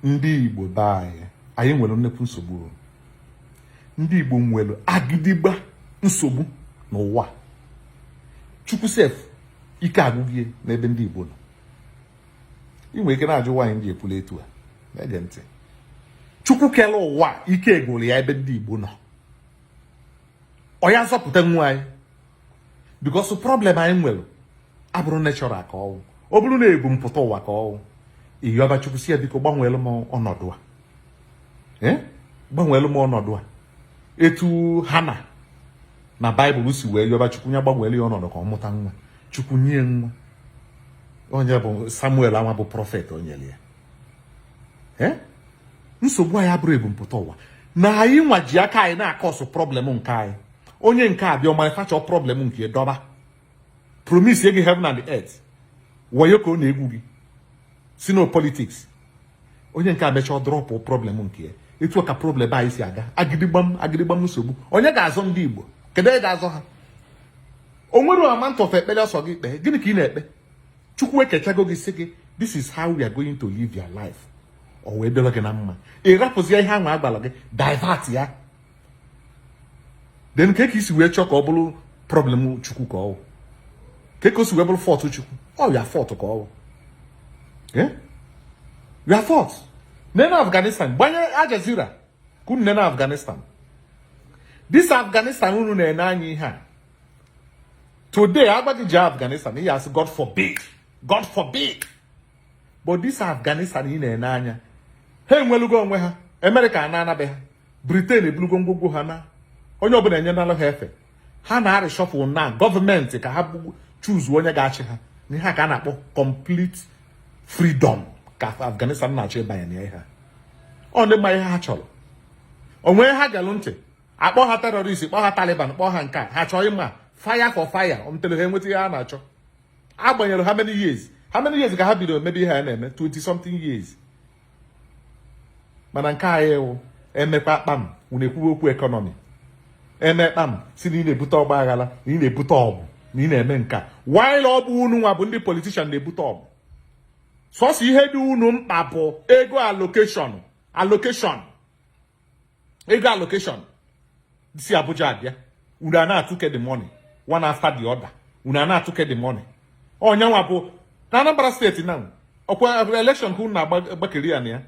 ndị Igbo be anyị anyị nwere nnekwu nsogbu ndị Igbo nwere agịdịgba nsogbu n'ụwa Chukwu sef ike agwụgo ya n'ebe ndị Igbo nọ ị nwere ike na-ajụ why m ji ekwu etu a gee ntị Chukwu kere ụwa ike agwụla ya ebe ndị Igbo nọ ọ ya-azọpụtanwu anyị because problem anyị nwere abụrọ natural ka ọ wụ ọ bụrụ na ebumpụta ụwa ka ọ wụ ị yọba chukwu sị ya biko gbanweelu m ọnọdụ a eh? gbanweelu m ọnọdụ a etu Hannah na Bible si wee yọba chukwu ya gbanweelu ya ọnọdụ ka ọ mụta nwa chukwu nye ya nwa onye bụ samuel anwa bụ prophet o nyere ya eh? nsogbu anyị abụrọ ebumpụta ụwa na anyị nwa ji aka anyị na-cause problem nke anyị onye nke a bịa ọ manufacture problem nke dọba promise gị heaven and earth wayo ka ọ na-egwu gị sị na ọ politics onye nke a mechaa drop problem nke ya etu ka problem anyị si aga agịdịgbam agịdịgbam nsogbu onye ga-azọ ndị Igbo kedu onye ga-azọ ha o nwere amount of ekpere ọ sọ gị kpee gịnị ka ị na-ekpe chukwu ekechago gị sị gị this is how you are going to live your life ọ wee dịrọ gị na mma ị rapụzi ihe ahụ a gwara gị divert ya then kee ka i si wee chọọ ka ọ bụrụ problem chukwu ka ọ wụ kee ka o si wee bụrụ fault chukwu ọ your fault ka ọ wụ eh? your fault nene afghanistan gbanye Al Jazeera ka unu nene afghanistan this afghanistan unu na-ene anya ihe a today a gwa gị je afghanistan ị ya-asị god forbid god forbid but this afghanistan ị na-ene anya ha enwelugo onwe ha america anaa na be ha britain ebulugo ngwugwu ha naa onye ọbụla enyenalụ ha efe ha na-reshuffle na government ka ha choose onye ga-achị ha na ihe a ka a na-akpọ complete freedom ka afghanistan na-achọ ịbanye na ihe a ọ ndị ma ihe ha chọrọ onwe ha galụ ntị a kpọ ha terrorist kpọ ha taliban kpọ ha nke a ha achọrọ ịma fire for fire until ha enweta ihe ha na-achọ agbanyere how many years how many years ka ha bidoro mebe ihe ha na-eme 20 something years mana nke anyị wụ eme kpam unu ekwuwe okwu economy eme kpam sị na ị na-ebute ọgba aghara na ị na-ebute ọgụ na ị na-eme nke a while ọ bụ unu nwa bụ ndị politician na-ebute ọgụ sọsọ ihe dị unu mkpa bụ ego allocation allocation ego allocation si Abuja abịa unu a na-atụke the money one after the other unu a na-atụke the money onyanwa bụ na Anambra state na ọkwa election ka unu na-agbakeri ya na ya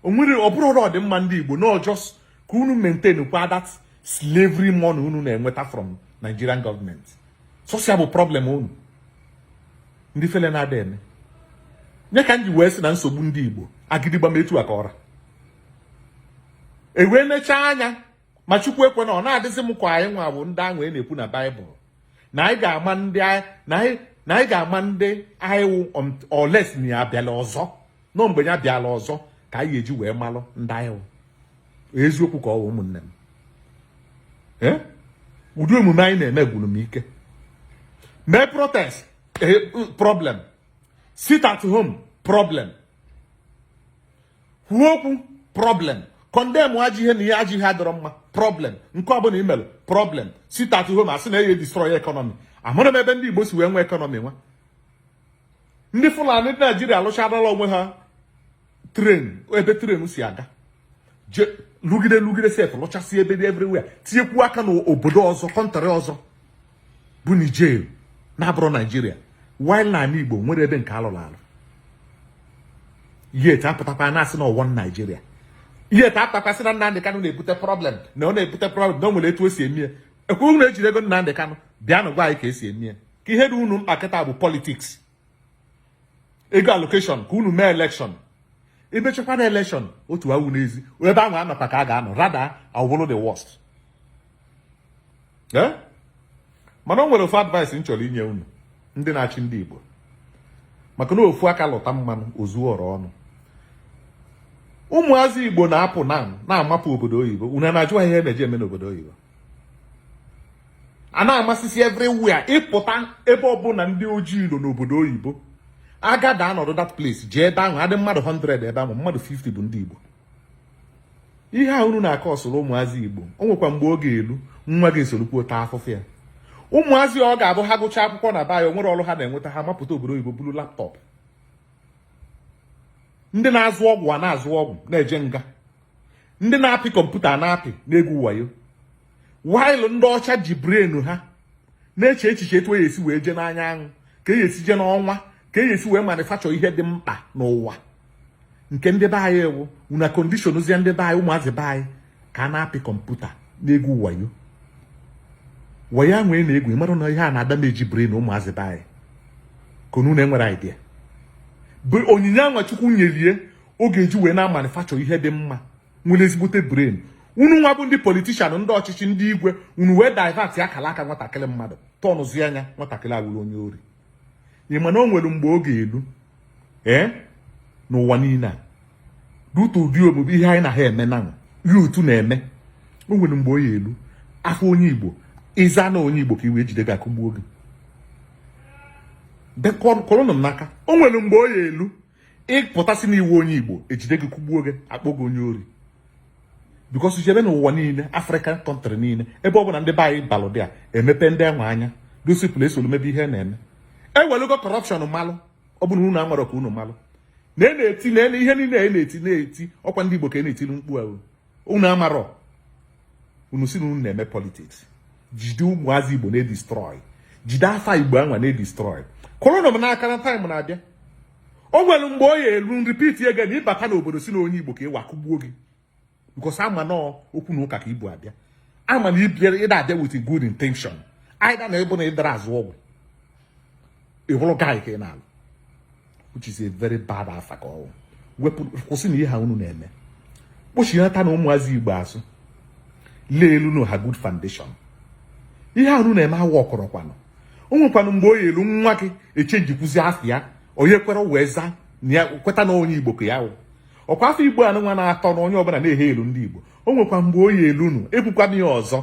onwere ọ bụrụ ụlọ ọdịmma ndị Igbo no just ka unu maintain kwa that slavery money unu na-enweta from Nigerian government sọsọ ya bụ problem unu ndị fele na-ada eme nye ka m ji wee sị na nsogbu ndị Igbo agidigba m etu a ka ọ ra ewee nechaa anya ma Chukwu ekwena ọ na-adịzi m ka anyị nwa bụ ndị ahụ a na-ekwu na Bible na anyị ga-ama ndị na anyị ga-ama ndị anyị wụ um, unless na ya bịala ọzọ na mgbe ya bịala ọzọ ka anyị eji wee malụ ndị anyị wụ eziokwu ka ọ wụ ụmụnne m eh? ụdị omume anyị na-eme gwuru m ike mee protest eh, problem sit at home problem kwuo okwu problem condemn ajọ ihe na ihe ajọ ihe adịrọ mma problem nke ọbụla i mere problem sit at home a sị na eye destroy economy amarọ m ebe ndị Igbo si wee nwee economy while ndị Fulani dị Nigeria alụchadala onwe ha train ebe train si aga je lụgide lụgide set lụchasị ebe dị everywhere tinyekwu aka n'obodo ọzọ country ọzọ bụ Niger na-abụrọ Nigeria while na ala Igbo nwere ebe nke alụrụ alụ yet apụtakwa na-asị na ọ wụ one Nigeria yet apụtakwa sị na Nnamdị Kanụ na-ebute problem na ọ na-ebute problem na o nwere etu o si emie ọkwa unu ejirigo Nnamdị Kanụ bịanụ gwa anyị ka esi emie ka ihe dị unu mkpa kịta bụ politics ego allocation ka unu mee election emechakwa na election otu awụ n'ezi ebe ahụ a nọkwa ka a ga-anọ rather ọ wụrụ the worst eh? mana o nwere ofu advice m chọrọ inye unu ndị na-achị ndị Igbo maka na ofu aka lụta mmanụ o zuo ọra ọnụ ụmụazị Igbo na-apụ na na-amapụ obodo oyibo unu na-ajụ ha ihe ha na-eje eme n'obodo oyibo a na-amasịsị everywhere ị pụta ebe ọbụla ndị ojii nọ n'obodo oyibo a gather anọdụ that place jee ebe ahụ adị mmadụ 100 ebe ahụ mmadụ 50 bụ ndị Igbo ihe a unu na-akọsụrụ ụmụazị Igbo o nwekwa mgbe ọ ga-elu nwa gị esorokwu taa afụfụ ya ụmụazị ọ ga-abụ ha gụchaa akwụkwọ n'ebe a o nwerọ ọrụ ha na-enweta ha mapụta obodo oyibo buru laptop ndị na-azụ ọgwụ a na-azụ ọgwụ na-eje nga ndị na-apị computer na-apị na-egwu wayo while ndị ọcha ji brain ha na-eche echiche etu esi wee jee n'anyanwụ ka e esi jee n'ọnwa ka e esi wee manufacture ihe dị mkpa n'ụwa nke ndị be anyị ewu na condition zie ndị be anyị ụmụazị be anyị ka ha na-apị computer na-egwu wayo wayo nwee na-egwu ị mara na ihe a na-adamage brain ụmụazị be anyị ka unu na-enwere idea bụ onyinye anwa Chukwu nyelie ọ ga-eji wee na-amanufacture ihe dị mma nwere ezigbote brain unu nwa bụ ndị politician ndị ọchịchị ndị igwe unu wee divert ya akala aka nwatakịrị mmadụ turnụzia ya nwatakịrị awụrụ onye ori ị ma na o nwere mgbe ọ ga-elu ee eh, n'ụwa niile a dutu ụdị omume ihe anyị na ha eme na ya otu na-eme o nwere mgbe ọ ya elu afa onye igbo ịza na onye igbo ka ị wụ ejide gị akụgbuo gị kụrụnụ m n'aka o nwere mgbe ọ ya elu ị pụta sị na ị wụ onye igbo ejide gị kụgbuo gị akpọ gị onye ori because jebe n'ụwa niile African country niile ebe ọ bụla ndị be anyị balụ there emepe ndị enwe anya those people a esolu mebe ihe na-eme ewelugo corruption malụ ọ bụrụ unu amarọ ka unu malụ na e na-eti na ihe niile a e na-eti na-eti ọkwa ndị igbo ka e na-etiri mkpu ahụ unu amarọ unu sị na unu na-eme politics jide ụmụazị igbo na-edestroy jide afa igbo anwa na-edestroy kụrụnụ m n'aka na time na-abịa o nwere mgbe ọ ya elu m repeat again na ị bata n'obodo sị na onye igbo ka ị wụ akụgbuo gị because a ma na okwu na ụka ka i bu abịa a ma na ị da abịa with good intention either na ọ bụ na ịdara azụ ọgwụ ọlụ guy ka ị na-alụ which is a very bad afa ka ọ wụ wepụ kwụsịnụ ihe a unu na-eme kpọchịlatanụ ụmụazị igbo azụ layelụnụ ha good foundation ihe a unu na-eme awa ọkọrọkwanụ o nwekwanụ mgbe ọ ya elu nwa gị echangekwuzi afa ya onye kwere wee zaa na ya kweta na onye igbo ka ya wụ ọkwa afa igbo anụnwa na-atọ na onye ọbụla na-ehail ndị igbo o nwekwa mgbe ọ ya elu unu ekwukwana ya ọzọ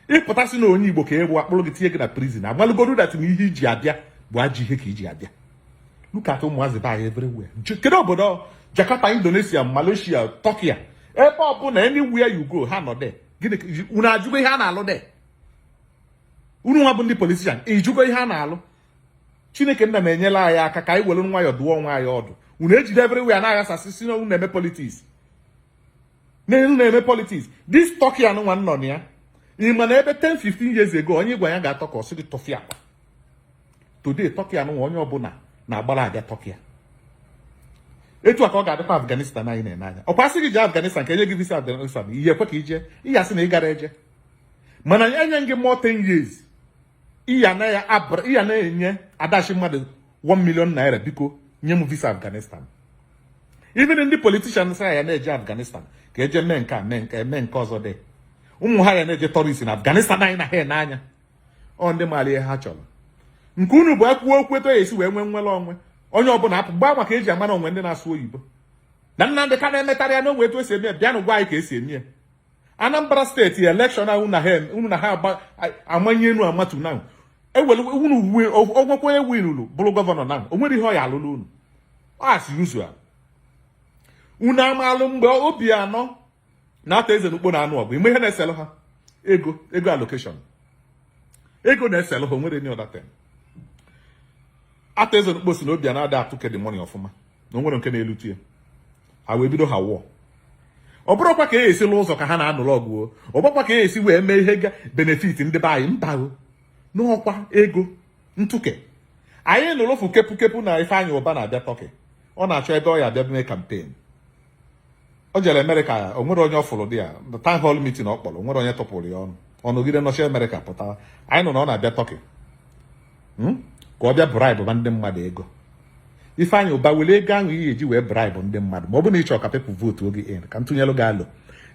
ị pụta sị na onye igbo ka ị bụ akpụrụ gị tinye gị na prison amalụgodu that na ihe iji abịa bụ ajọ ihe ka iji abịa look at ụmụazị be anyị everywhere kedu obodo Jakarta Indonesia Malaysia Turkey ebe ọbụla anywhere you go ha nọ there gịnị unu ajụgo ihe ha na-alụ there unu nwa bụ ndị politician ajụgo ihe ha na-alụ chineke nna nyere anyị aka ka anyị were nwayọọ dụọ onwe anyị ọdụ unu ejide everywhere na-aghasasị sị na unu na-eme politics unu na-eme politics this Turkey anụnwa m nọ na ya ị ma na ebe 10 15 years ago onye ị gwa ya gaa Turkey ọ sị gị tụfịakwa today Turkey anụnwa onye ọbụla na-agbara aga Turkey a etu a ka ọ ga-adịkwa Afghanistan anyị na-ene anya ọkwa asị gị jee Afghanistan ka enye gị visa Afghanistan ị ya ekwe ka i je ị ya asị na ị gara eje mana ya enye gị more 10 years ihe anaghị abụrụ ị ya na-enye adash mmadụ 1 million naira biko nye m visa Afghanistan even ndị politicians a ya na-eje Afghanistan ka e je mee nke a mee nke eme nke ọzọ ndị ụmụ ha ya na-eje tourist na Afghanistan anyị na-ene anya ọ ndị maara ihe ha chọrọ nke unu bụ akwụkwọ okwu etu a ya esi wee nwee nwere onwe onye ọbụla apụ gbaa maka eji amara o nwe ndị na-asụ oyibo na Nnamdị Kanu emetarọ ya na o nwe etu esi eme ya bịanụ gwa anyị ka esi eme ya Anambra State election ahụ unu na ha amanye enu amatu na ewere unu ọgwụkwọ winulu bụrụ gọvanọ na o nwere ihe ọ ya alụlụ unu as usual unu amalụ mgbe Obiano na-ata eze n'ukpo na-anụ ọgụ ime ihe na-eselụ ha ego ego allocation ego na-eselụ ha onwere any other thing ata eze n'ukpo si na Obiano ada atụ kedị money ọfụma na onwere nke na-elutu ya ha wee bido ha wụọ ọ bụrọkwa ka a ya-esi lụ ụzọ ka ha na-anụrụ ọgụ ọ bụrọkwa ka a ya-esi wee mee ihe ga benefit ndị be anyị mba o n'ọkwa ego ntụke anyị nụrụfụ kepu kepu na Ifeanyi Uba na-abịa Turkey ọ na-achọ ebe ọ ya-abịa mee campaign o jere Amerịka o nwere onye ọ fụrụ there town hall meeting ọ kpọrọ nwere onye tọpụrụ ya ọnụ ọ nọgide nọchi Amerịka pụtara anyị nụ na ọ na-abịa Turkey hmm? ka ọ bịa bribe ma ndị mmadụ ego Ifeanyị Uba were ego ahụ ị ya-eji wee bribe ndị mmadụ ma ọ bụ na ịchọ ka people vote gị in ka m tụnyelụ gị alo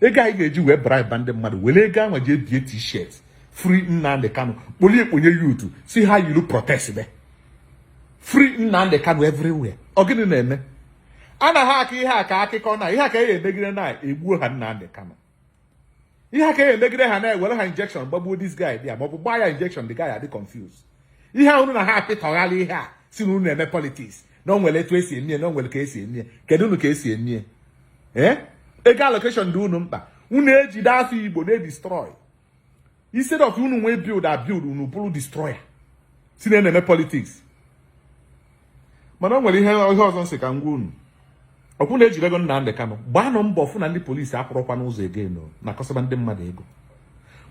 ego ahụ ị ga-eji wee bribe ndị mmadụ were ego ahụ jee bie t-shirt free Nnamdi Kanu kpolie kponye youth si ha yilu protest be free Nnamdi Kanu everywhere ọ gịnị na-eme anaghị akọ ihe a ka akụkọ na ihe a ka e emegide na egbuo ha Nnamdi Kanu ihe a ka e emegide ha na-ewere ha injection gbagbuo this guy there maọbụ gbaa ya injection the guy adị confused ihe a unu na ha apịtọghala ihe a si na unu na-eme politics na o nwere etu esi emie na o nwere ka esi emie kedu unu ka esi emie ee eh? ego allocation dị unu mkpa unu ejide afọ Igbo na-edestroy instead of unu wee build a build unu bụrụ destroyer si na na-eme politics mana o nwere ihe ihe ọzọ m sị ka m gwa unu ọkwa na ejidego Nnamdi Kanu gbaanụ mbọ fụ na ndị polisi akwụrọkwa n'ụzọ again na akọsaba ndị mmadụ ego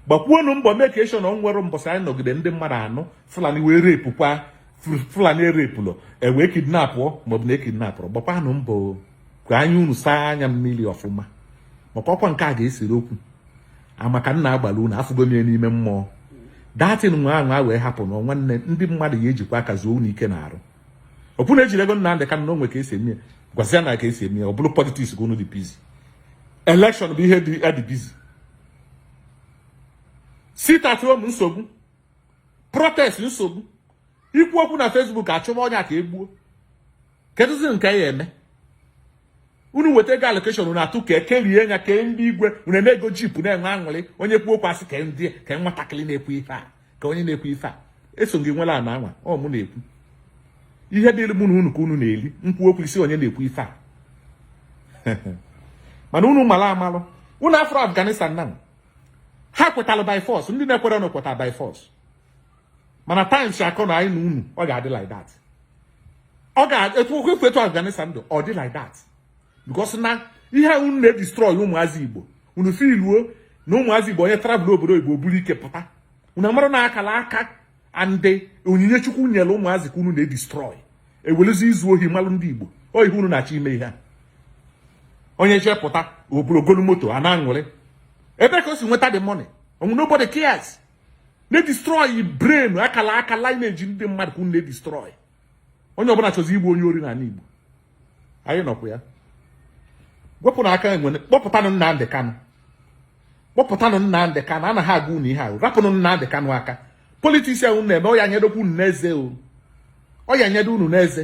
gbakwuonụ mbọ make sure na onwerọ mbọsị anyị nọgide ndị mmadụ anụ Fulani wee repụkwa Fulani erepụlọ ewee kidnapụ maọbụ na ekidnapụrụ gbakwanụ mbọ ka anya unu saa anya mmiri ọfụma maka ọkwa nke a ga-esere okwu maka na agbara unu afụgo m ya n'ime mmụọ that thing nwa ahụ a wee happen nwanne ndị mmadụ ya ejikwa aka zuo unu ike na-arụ ọkụ na ejiri ego nna ndị ka na o nwe ka esi eme gwazia na ka esi eme ọ bụrụ politics ka unu dị busy election bụ ihe dị adị busy sit at home nsogbu protest nsogbu ikwu okwu na Facebook achụma onye a ka egbuo kedụzi nke a ya-eme unu weta ego allocation unu atụ ka ekerie nya kee ndị igwe unu eme ego jeep na-enwe aṅụrị onye kwuo okwu asị ka ndị ka nwatakịrị na-ekwu ife a ka onye na-ekwu ife a eso gị nwere ana anwa ọ mụ na-ekwu ihe dịrị mụ na unu ka unu na-eli m kwuo okwu ị sị onye na-ekwu ife a mana unu mara amalụ unu afụrọ Afghanistan na ha kwetara by force ndị na-ekwere ọnụ kwetara by force mana times akọ na anyị na unu ọ ga-adị like that ọ ga-etu okwu efu etu Afghanistan dị ọ dị like that because na ihe unu na-edestroy ụmụazị Igbo unu fụlụ na ụmụazị Igbo onye travel obodo oyibo buru ike pụta unu amara na akala aka and onyinye Chukwu nyere ụmụazị ka unu na-edestroy ewelụzi izu ohi malụ ndị Igbo ọ ihe unu na-achọ ime ihe a onye chepụta ogologo moto a na-aṅụrị ebe ka o si nweta the money onwe nobody cares na-edestroy brain akala aka lineage ndị mmadụ ka unu na-edestroy onye ọbụla chọzi ịbụ onye ori n'ala Igbo anyị nọkwa ya wepụnụ aka enwe kpọpụtanụ Nnamdị Kanụ kpọpụtanụ Nnamdị Kanụ anaghị agwa unu ihe ahụ rapụnụ Nnamdị Kanụ aka politics ahụ unu na-eme ọ ya-anyadokwa unu n'eze o ọ ya-anyado unu n'eze